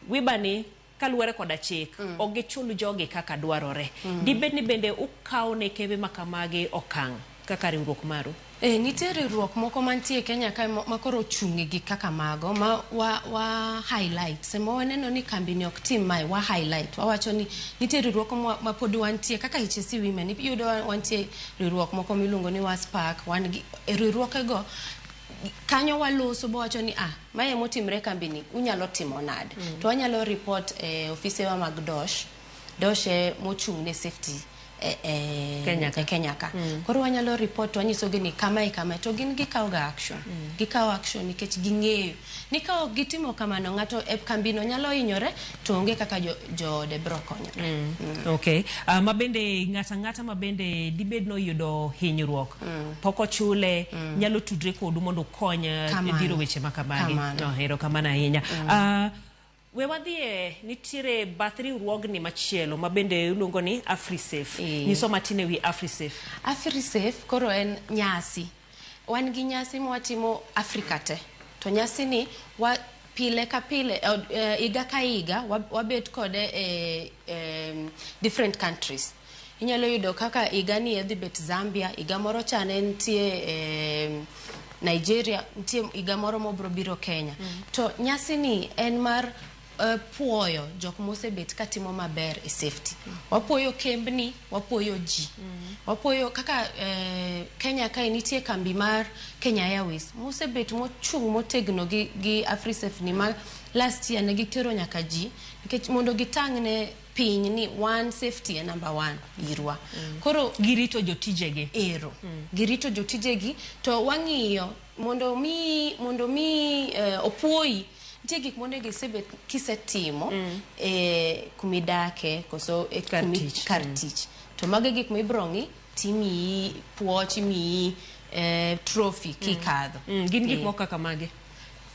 wibani Kaluwore koda chik, ok gichul jogi kaka dwarore. Dibed ni bende ukawo ne kembe ma kamagi okang' kaka riwruok maru? Ee, nitie riwruok moko mantie e Kenya kae ma ma koro ochung' e gik kaka mago ma wa wa highlight. Sama waneno ni kambini ok tim mae, wa highlight. Wawacho ni nitie riwruok mwa ma pod wantie kaka HSC Women, iyudo wa wantie riwruok moko miluongo ni WASPAC, wan gi e riwruokego kanyo waloso bawacho ni a. Mae ema otimre kambini, unyalo timo nade? Mm. To wanyalo report e eh, ofisewa mag DOSH, DOSH e mochung' ne safety e, e, Kenya ka. E Kenya ka. Mm. Koro wanyalo report to wanyisogi ni kama e kama to gin gikawoga action. Mm. Gikawo action nikech ging'eyo ni ka ok gitimo kamano ng'ato e kambino nyalo hinyore to onge kaka jo- joode biro konyo Okay. Uh, ma bende ng'ato ang'ata ma bende dibed noyudo hinyruok pok ochule nyalo tudre kodu mondo ukony uh, Kamano. dhiro weche ma kamagi. Kamano. No, hero kamano ahinya. Uh, we wadhie nitiere bath riwruogni machielo ma bende iluongo ni Afrisafe. Eh. Nyiso matin e wi Afrisafe. afrisafe koro en nyasi Wan gi nyasi mwatimo Africa te. To nyasi ni wa pile ka pile, eh, higa ka higa wabet kode e eh, different countries. Inyalo yudo kaka higa ni edhi bet Zambia, higa moro cha ne nitie eh, Nigeria, nitie higa moro mobro biro Kenya. Mm. To nyasi ni en mar uh, puoyo jok mosebet ka timo maber e safety mm. wapuoyo kembni wapuoyo ji mm. wapuoyo kaka uh, Kenya kae nitie kambi mar Kenya Airways mosebet mochung' motegno gi, gi Afrisafe ni ma last year ne gitero nyaka ji nikech mondo gitang' ne piny ni one safety e number one irwa mm. koro girito jotijegi ero mm. girito jotijegi to wang'iyo mondo mi mondo mi uh, eh, opuoyi Nitie gik monego isebet kisetimo e kuma idake koso e Kar kumi- tich. kar tich to mago e gik ma ibiro ng'i timiyi puoch imiyi eh, trophy kikadho Mm, gin gik Eh, moko kaka mage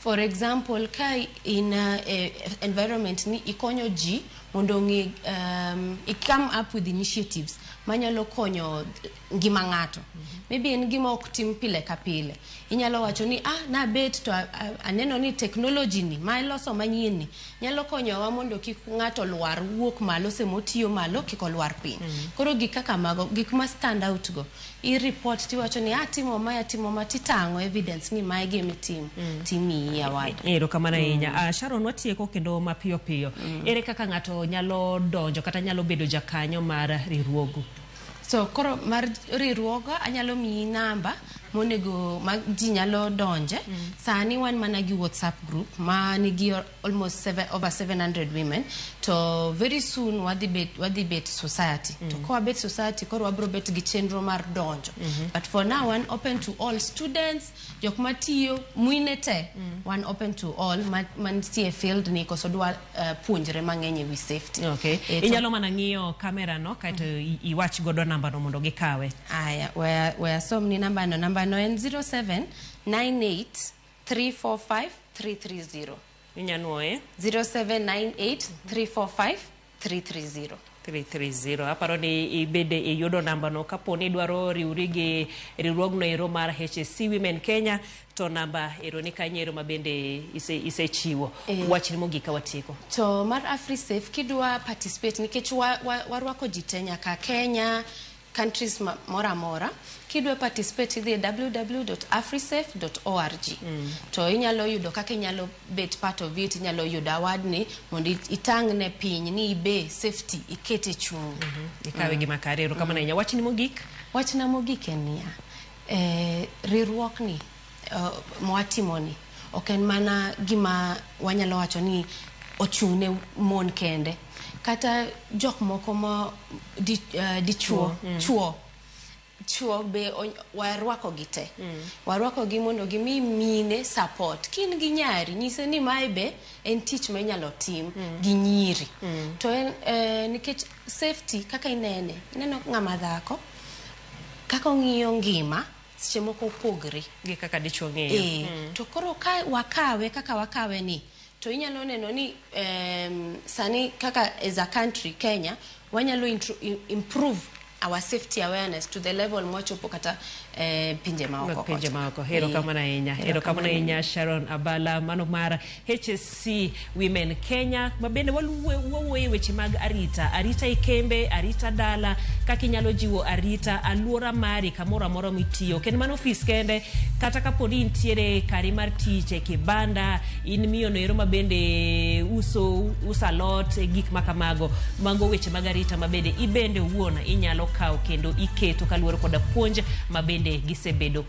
for example ka in a, eh, environment ni ikonyo ji mondo ong'e um, i come up with initiatives manyalo konyo ngima ng'ato maybe en gima ok tim pile ka pile inyalo wacho ni ah nabet to a- a- aneno ni technology ni ma iloso manyien ni nyalo konyowa mondo kik ng'ato lwar wuok malo sama otiyo malo kik olwar piny koro gik kaka mago gik ma stand out go i report tiwacho ni ah timo ma atimo ma titang'o evidence ni ma e gima itimo timiyi award erokamano ahinya Ah, sharon watieko kendo mapiyo piyo ere kaka ng'ato nyalo donjo kata nyalo bedo jakanyo mar riwruogu So koro mar riwruoga anyalo miyi namba monego ma ji nyalo donje. Mm. Sani wan mana gi WhatsApp group ma nigi almost seven, over 700 women to very soon wadhi bet, wadhi bet society. Mm. To kwa bet society koro wabro bet gi chenro mar donjo. Mm -hmm. But for now wan open to all students jok matiyo mwine te mm. wan open to all mantie ma field ni koso dwa uh, puonjre mang'eny e wi safety okay. E, inyalo mana ng'iyo kamera no kaeto mm. iwach godo namba no mondo gikawe aya waya, waya som ni namba no namba no en 07 98 345 330 inyanwoye 0798 345 330. 330 aparo ni ibede iyudo nambano kapo ni idwaro riwri gi riwruogno ero mar HSC Women Kenya to namba ero ni kanyo ero ma bende ise- isechiwo Eh. wachni mogik ka watieko To mar AfriSafe kidwa participate nikech wa- wa- warwako ji te nyaka Kenya, countries ma- moro amora kidwa participate idhi e www.afrisafe.org to inyalo yudo kaka inyalo bet part of it inyalo yudo award ni mondo it- itang' ne piny ni ibe safety ikete chung' ikawe gima kare erokamano ahinya wachni mogik wachna mogik en niya eh, riwruokni mwatimoni ok en mana gima wanyalo wacho ni ochung' ne mon kende kata jok moko ma di, uh, dichuo mm. chuo chuo be warwako gi te mm. warwako gi mondo gimi mine support kin gi nyari nyise ni mae be en tich ma inyalo tim mm. gi nyiri mm. to en eh, nikech safety kaka inene ineno ng'ama dhako kaka ong'iyo ngima seche moko opogre gi kaka dichwo ng'eyo e, mm. to koro ka wakawe kaka wakawe ni to inyalo neno ni um, sani kaka as a country Kenya wanyalo improve our safety awareness to the level mwachopo kata eh, pinje maoko pinje maoko hero kamana inya hero kamana inya Sharon Abala mano mara HSC Women Kenya ma bende wawuoye weche mag arita arita e kembe arita dala kaka inyalo jiwo arita aluora mari kamoro amora mitiyo kendo mano ofis kende kata kapo ni intiere kari mar tich e kibanda in miyo noero ma bende uso usa lot e gik ma kamago mago weche mag arita ma bende ibende wuon inyalo kawo kendo iketo kaluwore koda puonj ma bende gisebedo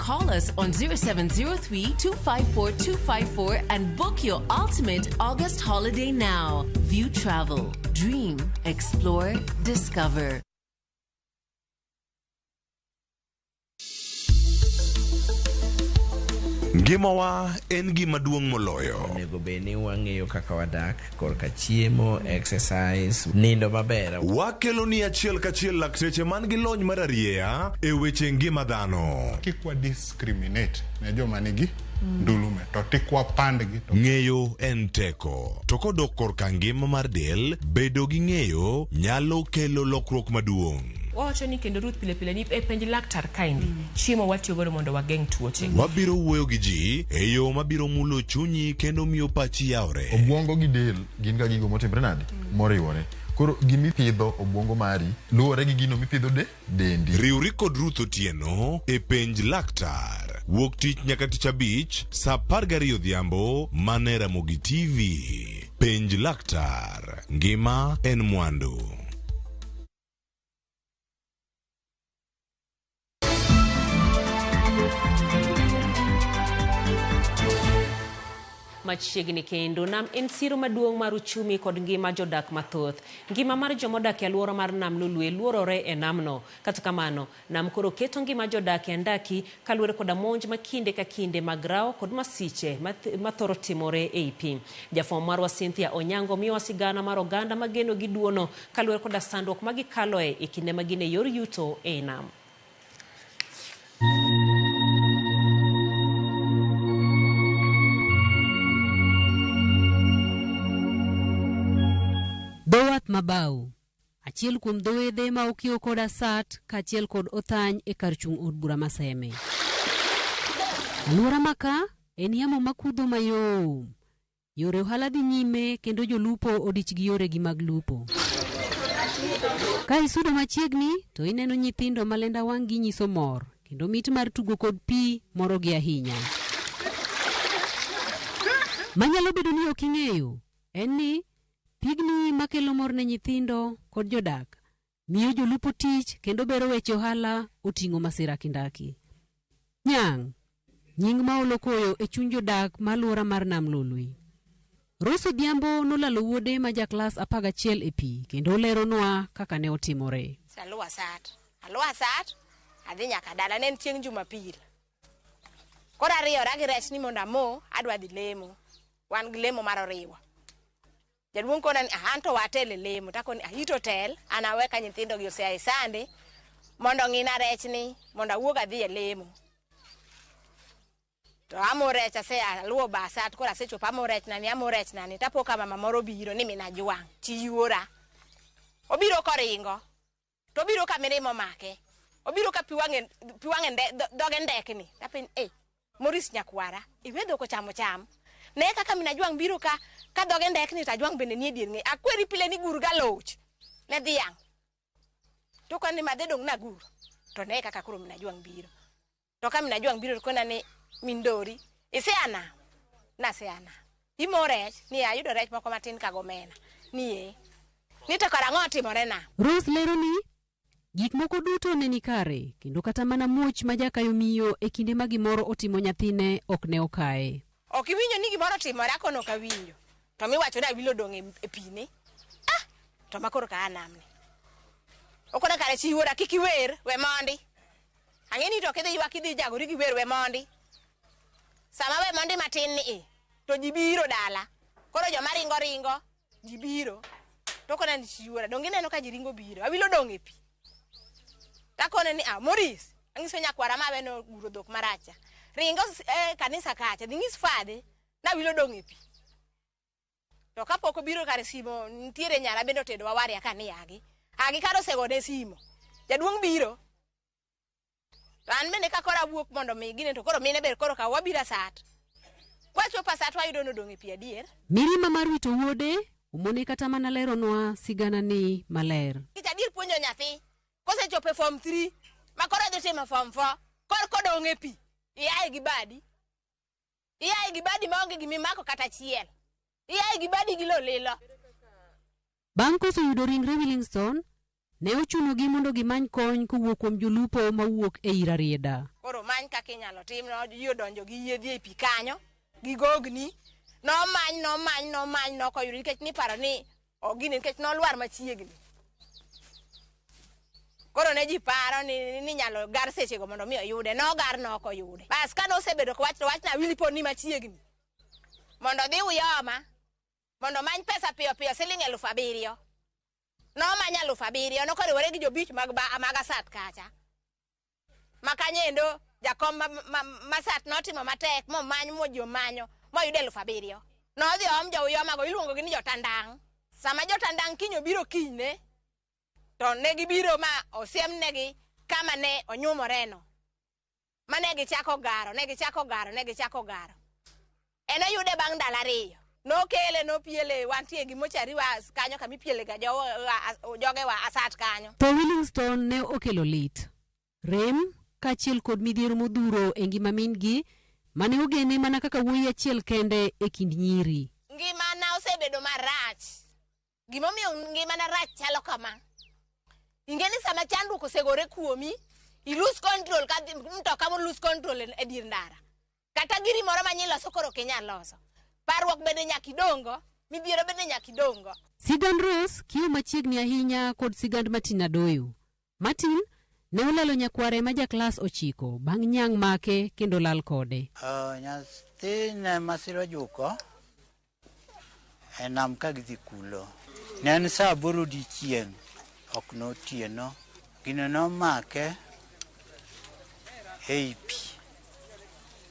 Call us on 0703 254 254 and book your ultimate August holiday now. View Travel. Dream, explore, discover. Ngimawa en gima duong' moloyo. Onego bed ni wang'eyo kaka wadak. korka chiemo, exercise, nindo maber. Wakeloni achiel kachiel lakteche man gi lony mararieya e weche ngima dhano. Kik wa discriminate ne joma nigi ndulume to tik wapandgi to Ng'eyo en teko. To kodok korka ngima mar del, bedo gi ng'eyo nyalo kelo lokruok maduong'. Wawacho ni kendo Ruth pile pile ni e penj laktar kaendi mm. chiemo watiyo godo mondo wageng' tuoche. Mm. Wabiro wuoyo gi ji e yo mabiro mulo chunyi kendo miyo pachi yawre. Obwongo gi del gin ga gigo motimre nade? Mm. Moriwore. Koro gimi pidho obwongo mari luwore gi gino mipidho de dendi. Riwri kod Ruth Otieno e penj laktar. Wuok tich nyaka tich abich sa apar gariyo odhiambo mana e Ramogi TV. Penj laktar. Ngima en mwandu. machiegni kendo nam en siro maduong' mar uchumi kod ngima jodak mathoth ngima mar jomodak e alwora mar nam lolwe luorore e namno kata kamano Nam koro keto ngima jodak e andaki kaluwore koda monj ma kinde ka kinde mag rawo kod masiche ma thoro timore ei pi. Jafwambo marwa Cynthia Onyango miyowa sigana mar oganda ma geno gi duono kaluwore koda sandruok ma gikaloe e kinde ma gin e yor yuto ei nam. Dho wath ma Bau, Achiel kuom dho wedhe ma okiewo kod asat kaachiel kod othany e kar chung' od bura ma Seme. Aluora maka en yamo makudho mayom. Yore ohala dhi nyime kendo jolupo odich gi yoregi mag lupo. Ka isudo machiegni to ineno nyithindo ma lenda wang'gi nyiso mor kendo mit mar tugo kod pi morogi ahinya. Manyalo bedo ni ok ing'eyo en ni Pigni ma kelo mor ne nyithindo kod jodak, miyo jolupo tich kendo bero weche ohala oting'o masira kindaki. Nyang', nying ma olo koyo e chuny jodak ma aluora mar Nam Lolwe. Rose Odhiambo nolalo wuode ma ja klas apar gachiel e pi kendo oleronwa kaka ne otimore. Aluwa sat, aluwa sat, adhi nyaka dala. Ne en chieng' Jumapil. Koro ariyora gi rech ni mondo amo, adwa dhi lemo. Wan gi lemo mar oriwa. Jaduong' kona ni, "Ah, an to watel e lemo." Takoni, "Ah, ito tel, an awe ka nyithindo gi osea e sande mondo ong'ina rech ni mondo awuog adhi e lemo." To amo rech asea aluwo basa to koro asechopo amo rech na ni, amo rech na ni. Tapo ka mama moro obiro ni min Ajwang' chi yuora. Obiro koringo. To obiro ka mirima omake. Obiro ka pi wang'e pi wang'e nde, dho- dhoge ndekni. Tapin eh Morris nyakwara, iwe dhok ochamo cham. Ne kaka min Ajwang' biro ka ka dhoge ndekni to Ajwang' bende nie dier ng'e. Akweri pile ni gur galoch ne dhiang'. To kan ni madhe dong' nagur. To ne kaka koro min Ajwang' biro. to ka min ajwang' biro to kona ni min dori isea nam nasea nam imo rech ni ayudo rech moko matin ka gomena ni ee ni to kara ang'o otimore nam Rose lero ni, Gik moko duto ne ni kare, kendo kata mana muoch ma jakayo miyo e kinde ma gimoro otimo nyathine ok ne okaye. ok iwinjo ni gimoro otimore akono ok awinjo to miwacho ni awilo odong' e- e pi ni ah to ma koro ka a nam ni okona kare chi wuora kik iwer we mondi Ang'e ni to kidhi ywak idhi jagori gi wer we mondi. Sama we mondi matin ni i, to ji biro dala. Koro joma ringo ringo, ji biro. To kona ni chiwora, donge ineno ka ji ringo biro. Awilo dong' e pi. Takone ni, ah, Moris, ang'iso nyakwara ma we no guro dhok maracha. Ringo s- eh, kanisa kacha, dhi ng'is fadhi, nawilo dong' e pi. To kapok obiro kar simo nitiere nyara bende otedo wawari aka ni agi. Agi kar osegone simo. Jaduong' biro. To an bende ka koro awuok mondo mi gine to koro mine ber koro ka wabiro asat. Kwachopo asat wayudo nodong' e pi adier. Mirima mar wito wuode omone kata mana leronwa sigana ni maler. Kech adier puonjo nyathi. Kosechopo e form 3 ma koro odhi timo form 4 kor kodong' e pi. Iaye gi badi. iaye gi badi maonge gima imako kata achiel iaye gi badi gi lolilo Bang' koso yudo ringre Willingstone, ne ochunogi mondo gimany kony kowuok kuom jolupo mawuok e i Rarieda. koro many kaka inyalo tim no ji odonjo gi yiedhi ei pi kanyo gi gogni nomany nomany nomany nokoyudo nikech niparo ni Ok gini nikech nolwar machiegni. Koro ne ji paro ni ni nyalo gar sechego mondo mi oyude. Nogar ne ok oyude. Bas ka nosebedo kowach to wach nawili pod ni machiegni. Mondo odhi Uyoma mondo omany pesa piyo piyo siling' elufu abiriyo. Nomany alufu abiriyo nokoriwore gi jobich mag ba- mag Asat kacha. ma kanyendo jakom ma, ma, masat notimo matek momany moji omanyo moyudo elfu abiriyo nodhi oom jouyomago iluongogi ni jotandang' sama jotandang' kiny obiro kinyne to ne gibiro ma osiemnegi kama ne onyumoreno ma ne gichako garo ne gichako garo ne gichako garo En oyude bang' ndalo ariyo. Nokele nopiele wantie gi mochari wa kanyo kama ipiele ga joge wa asat kanyo. Tho Willingstone ne okelo lit, rem kaachiel kod midhiero modhuro e ngima min gi mane ogene mana kaka wuoyi achiel kende e kind nyiri. Ngimana osebedo marach Gimomiyo ngimana rach chalo kama. Ing'e ni sama chandruok osegore kuomi, i lose control ka dhi- mtoka mo lose control e dier ndara. Kata giri moro ma nyiloso koro ok inyal loso. Parruok bende nyaka idongo, midhiero bende nyaka idongo. Sigand Rose kiyo machiegni ahinya kod sigand Martin Adoyo. Martin ne olalo nyakware ma jaklas ochiko bang' nyang' make kendo lal kode. Nyathine masira ojuko e nam ka gidhi kulo. Ne en sa aboro odiechieng', ok notieno. Gino nomake ei pi,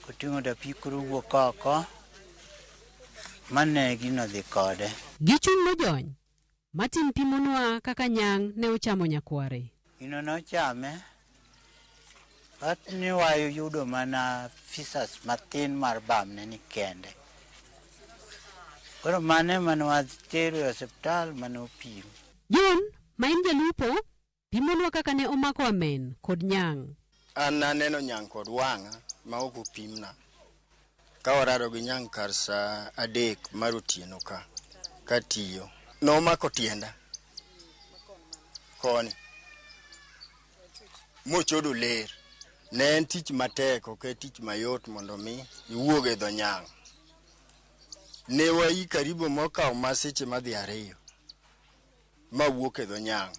koting'o dapi koro owuok oko, ma ne gino dhi kode. Gichung' mojony, Martin pimonwa kaka Nyang' ne ochamo nyakware. Gino nochame, but ni wayudo mana pieces mathin mar bamne ni kende. Koro mano ema ne watero e osiptal ma nopim. John, ma en jalupo, Pimonwa kaka ne omako Amen kod Nyang'. An naneno Nyang' kod wang'a ma ok opimna ka warado gi Nyang' kar sa adek mar otieno ka, katiyo. Nomako tienda koni mochodo ler. Ne en tich matek, ok en tich mayot mondo omi iwuog e dho Nyang'. Ne waii karibu mokawo ma seche madhi ariyo. Ma wuok e dho nyang'.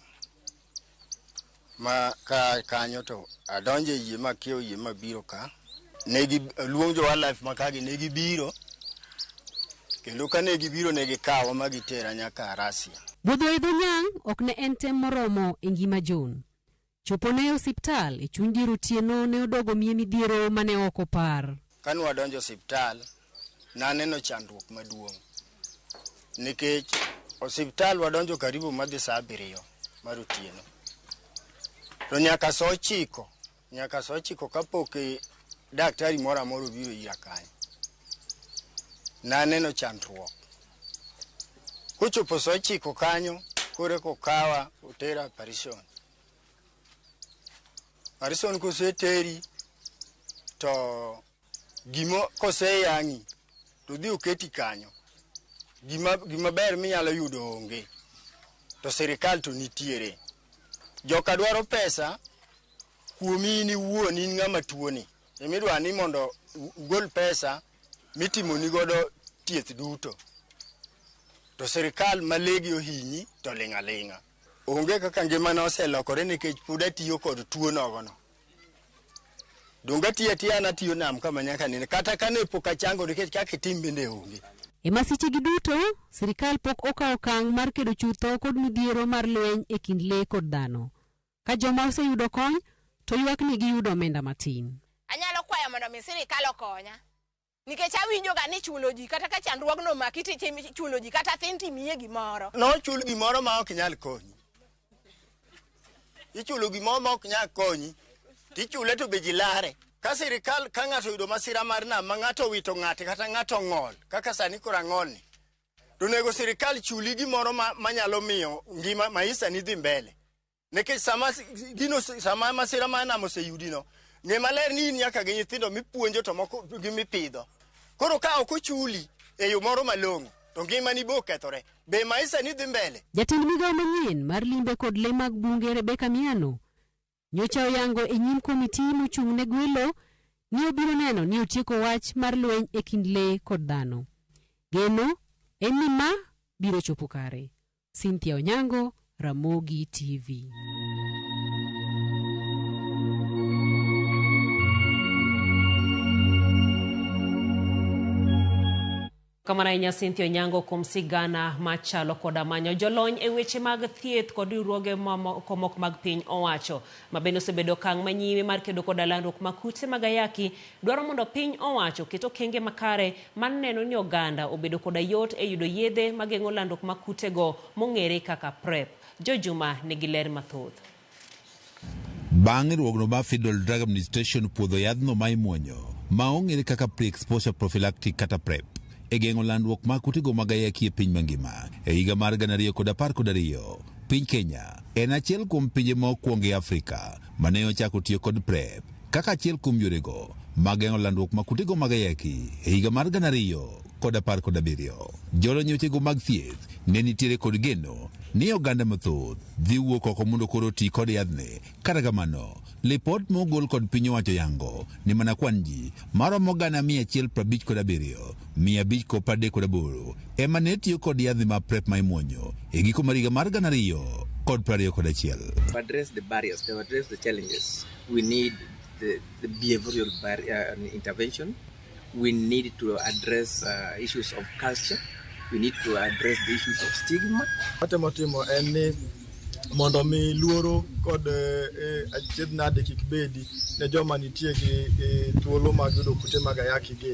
Ma ka kanyo to adonjo e yie ma kiewo yie ma biro ka. Ne gi luong jo wildlife ma kagi ne gibiro. Kendo ka ne gibiro ne gikawa ma gitera nyaka Russia. Budho e dho nyang' ok ne en tem moromo e ngima John. Chopone e osiptal, e chuny dier otieno, ne odogo miye midhiero ma ne ok opar. Kane wadonjo e osiptal, ne aneno chandruok maduong' nikech osiptal wadonjo karibu madhi sa abiriyo mar otieno, to nyaka sa ochiko, nyaka sa ochiko kapok daktari moro amora obiro ira kanyo. Ne aneno chandruok. Kochopo saa ochiko kanyo koro eka okawa otera operation. Operation koseteri to gimo koseyang'i to odhi oketi kanyo gima gima ber minyalo yudo onge to sirikal to nitiere. Joka dwaro pesa kuomi in iwuon in ng'ama tuoni emidwa ni mondo ugol pesa mitimoni godo thieth duto to sirikal ma legi ohinyi to ling' aling'a. Onge kaka ngimana oselokore nikech pod atiyo kod tuo nogono. Donge atiyo atiya an atiyo nam kama nyaka nene kata kane pok achango nikech kaka itim bende onge. E masichegi duto, sirikal pok okawo okang' mar kedo chutho kod midhiero mar lweny e kind le kod dhano. Ka joma oseyudo kony to ywak ni giyudo omenda matin. Anyalo kwayo mondo mi sirikal okonya. Nikech awinjoga ni chulo ji kata ka chandruogno omaki to ichulo ji kata thin to imiye gimoro. Nochul gimoro ma ok nyal konyi. Ichulo gimoro ma ok nyal konyi. Tichule to be ji lare. Ka sirikal ka ng'ato oyudo masira mar nam ma ng'ato owito ng'ate kata ng'ato ong'ol kaka sani koro ang'olni. To onego sirikal chuli gimoro ma, ma nyalo miyo ngima maisani dhi mbele. nikech sama gino sama masira ma nam oseyudino ng'e maler ni in nyaka gi nyithindo mipuonjo to moko gi mipidho koro ka ok ochuli e yo moro malong'o to ngimani bo kethore be maisha ni dhi mbele Jatend migawo manyien mar limbe kod le mag bunge Rebecca Miano nyocha oyango e nyim komiti mochung' ne gwelo ni obiro neno ni otieko wach mar lweny e kind le kod dhano. Geno en ni ma biro chopo kare. Cynthia Onyango, Ramogi TV. Kamano ahinya Cynthia Onyango kuom sigana machalo koda manyo jolony e weche mag thieth kod riwruoge mamoko mok mag piny owacho ma bende osebedo okang' manyime mar kedo koda landruok mag kute mag ayaki dwaro mondo piny owacho oket okenge makare mar neno ni oganda obedo koda yot e yudo yedhe mageng'o landruok mag kutego mong'ere kaka Prep. Joy Juma nigi ler mathoth. Bang' riwruogno mar Federal Drug Administration puodho yadhno ma imuonyo ma ong'ere kaka Pre-Exposure Prophylactic kata Prep e geng'o landruok mag kutego mag ayaki e piny mangima e higa mar gana ariyo kod apar kod ariyo, piny Kenya en achiel kuom pinje ma okuongo e Afrika mane ochako tiyo kod Prep. kaka achiel kuom yorego mag geng'o landruok ma kutego mag ayaki e higa mar gana ariyo kod apar kod abiriyo. Jolony wechego mag thieth ne nitiere kod geno ni oganda mathoth dhi wuok oko mondo koro oti kod yadhni. Kata kamano, lipot ma ogol kod piny owacho yango ni mana kwan ji maromo gana mia achiel prabich kod abiriyo, mia abich kod pradek kod aboro ema ne tiyo kod yadhni mag PrEP ma imuonyo e giko mar higa mar gana ariyo kod prariyo kod achiel. we need the, the behavioral barrier uh, intervention. We need to address uh, issues of culture. We need to address the issues of stigma. Watemo timo en ni mondo mi luoro kod eh, achiedh nade kik bedi ne joma nitie gi eh, thuolo mag yudo kute mag ayaki gi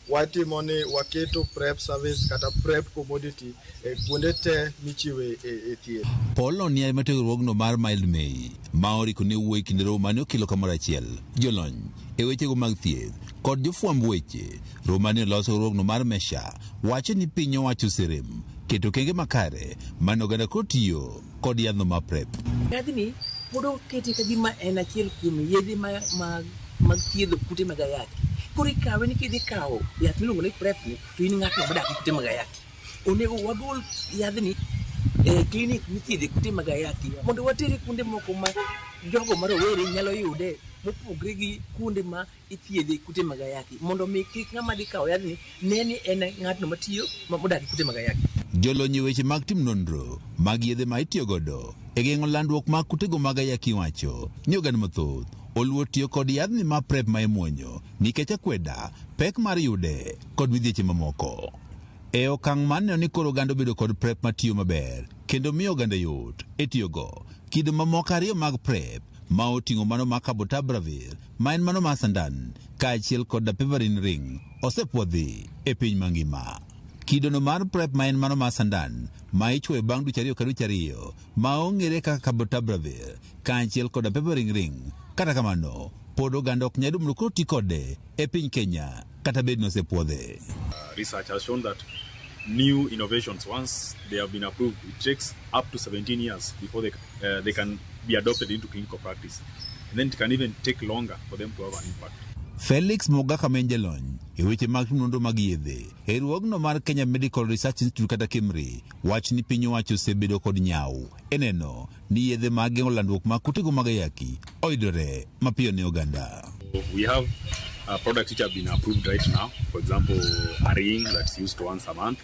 Watimo ni waketo prep service kata prep commodity e kuonde te michiwe e, e thieth. Paul Oniai ma tiegruogno mar Mild May ma oriko ne wuoyi kinde romo mane okelo kamoro achiel jolony e wechego mag thieth kod jofwamb weche. Romo mane olos riwruogno mar Mesha wacho ni piny owacho oserem keto okenge makare mane oganda koro tiyo kod yadhno mar prep. Yadhni pod okete ka gima en achiel kuom yedhe mag mag thiedho kute mag ayaki. Koro ikawe ni kidhi kawo yath miluongo ni prep ni to in ng'atno modak gi kute mag ayaki. Onego wagol yadhni e klinik mithiedhe kute mag ayaki mondo watere kuonde moko ma jogo ma rowere nyalo yude mopogre gi kuonde ma ithiedhe kute mag ayaki mondo mi kik ng'ama dhi kawo yadhni ne ni en ng'atno matiyo ma- modak e kute mag ayaki. Jolony e weche mag timo nonro mag yedhe ma itiyo godo e geng'o landruok mag kutego mag ayaki wacho ni oganda mathoth oluor tiyo kod yadhni ma PrEP ma imuonyo nikech akweda, pek mar yude kod midhieche mamoko. E okang' mar neno ni koro oganda obedo kod PrEP matiyo maber kendo miyo oganda yot e tiyogo, kido mamoko ariyo mag PrEP ma oting'o mano mar cabotabravir ma en mano mar sandan kaachiel kod dapivarin ring osepwodhi e piny mangima. Kidono mar PrEP ma en mano mar sandan ma ichwoyo bang' dweche ariyo ka dweche ariyo ma ong'ere kaka cabotabravir kaachiel kod dapivarin ring kata kamano pod oganda ok nyal yudo mondo koro ti kode e piny Kenya. kata bed nosepwodhe. Research has shown that new innovations, once they have been approved, it takes up to 17 years before they, uh, they can be adopted into clinical practice. And then it can even take longer for them to have an impact. Felix Mogaka ma en jalony e weche mag nonro mag yedhe e riwruogno mar Kenya Medical Research Institute kata KEMRI wach ni piny owacho osebedo kod nyawo e neno ni yedhe mag geng'o landruok mag kutego mag ayaki oyudore mapiyo ne oganda. We have uh, products which have been approved right now. For example, a ring that's used once a month,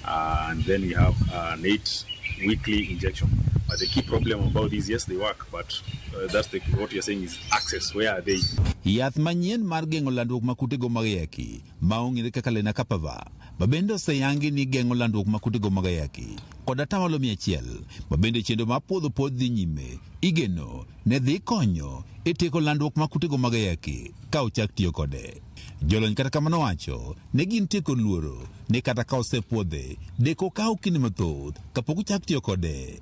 uh, and then we have uh, an eight weekly injection. But the key problem about these, yes, they work, but uh, that's the, what you're saying is access. Where are they? Yath manyien mar geng'o landruok ma kutego mag ayaki ma ong'ere kaka lenacapavir ma bende oseyangi ni geng'o landruok ma kutego mag ayaki kod atamalo mia achiel ma bende chenro mar puodho pod dhi nyime igeno ne dhi konyo e tieko landruok ma kutego mag ayaki ka ochak tiyo kode. Jolony kata kamano wacho ne gin tieko luoro ni kata ka osepuodhe deko kawo kinde mathoth kapok ochak tiyo kode.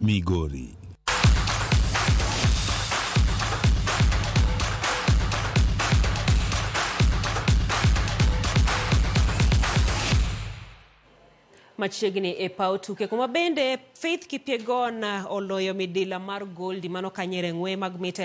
Migori. machiegni e paw tuke kuma bende faith kipyegon oloyo midila mar goldi mano kanyere ng'we mag mita